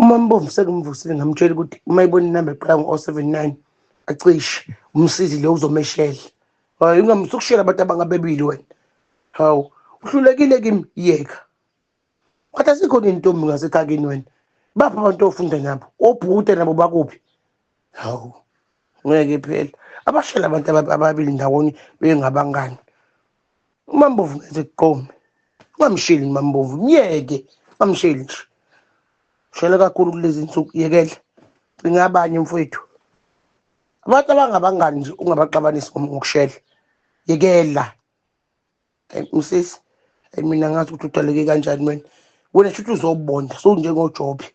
umambomvu sengimvusile ngamtshela ukuthi uma ibona inamba eqala ngo-o oh seven nine acishe umsizi lo uzomeshela hayi ungamsukushela abantu abangabebili wena hawu uhlulekile kimi yeka wathi asikhona intombi ngasekhakini wena baphi abantu ofunda nabo obhuta nabo bakuphi hawu ngeke phela abashela abantu ababili ndawonye bengabangani umambovu ngeze kuqome ungamsheli umambovu myeke ungamsheli nje shela kakhulu kulezi nsuku yekele cinga abanye mfowethu abantu abangabangani nje ungabaxabanisi ngokushela yekela msisi mina ngazi ukuthi udaleke kanjani wena wena shuthi uzobonda sowunjengojobe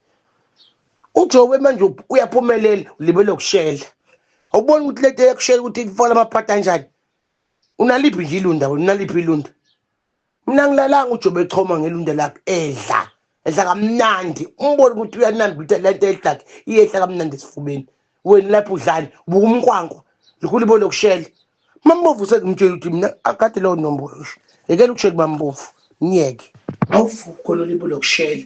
ujobe manje uyaphumelela ulibele ukushela awuboni ukuthi lento eyakushela ukuthi ifona amaphata anjani unaliphi nje ilunda wena unaliphi ilunda mina ngilalanga ujobe echoma ngelunda lakhe edla edla kamnandi umbone ukuthi uyanamba ukuthi le nto edlakhe iyehla kamnandi esifubeni wena lapho udlani buka umnkwankwa likhulu ibona okushela mambovu usengimtshela ukuthi mina akade leyo nombolo sho yekela ukushela mambovu myeke awuvuko lolibula okushela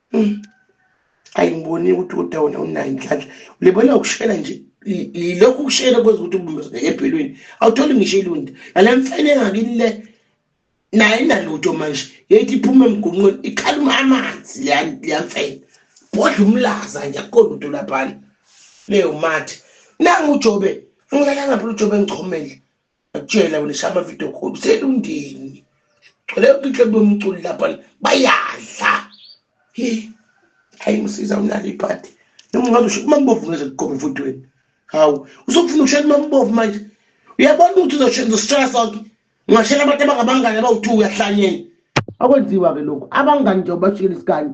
hmm. ayi ngiboni ukuthi uda wona unayo inhlanhla ulibona ukushela nje yilokhu ukushela kwenza ukuthi ubumezeke ebhelweni awutholi ngisho ilunda nale mfene engakini le naye inalutho manje yethi iphuma emgonqweni ikhaluma amanzi leyamfene bodla umlaza nje akukhona umuntu laphana leyo mathi nangu ujobe ngilalangaphi ujobe engichomele Akutshela wena shaya amavidiyo khulu uselundini gcwele yonke inhlobo yomculi lapha bayadla hi hayi msiza unalo iphathi noma ungabe usho umambovu ngeze kuqoma emfudweni hawu usokufuna ukushela umambovu manje uyabona ukuthi uzosishela sonke ungashela abantu abangabangani abawu-two uyahlanyeni akwenziwa-ke lokhu abangani nje ubashikela isikanye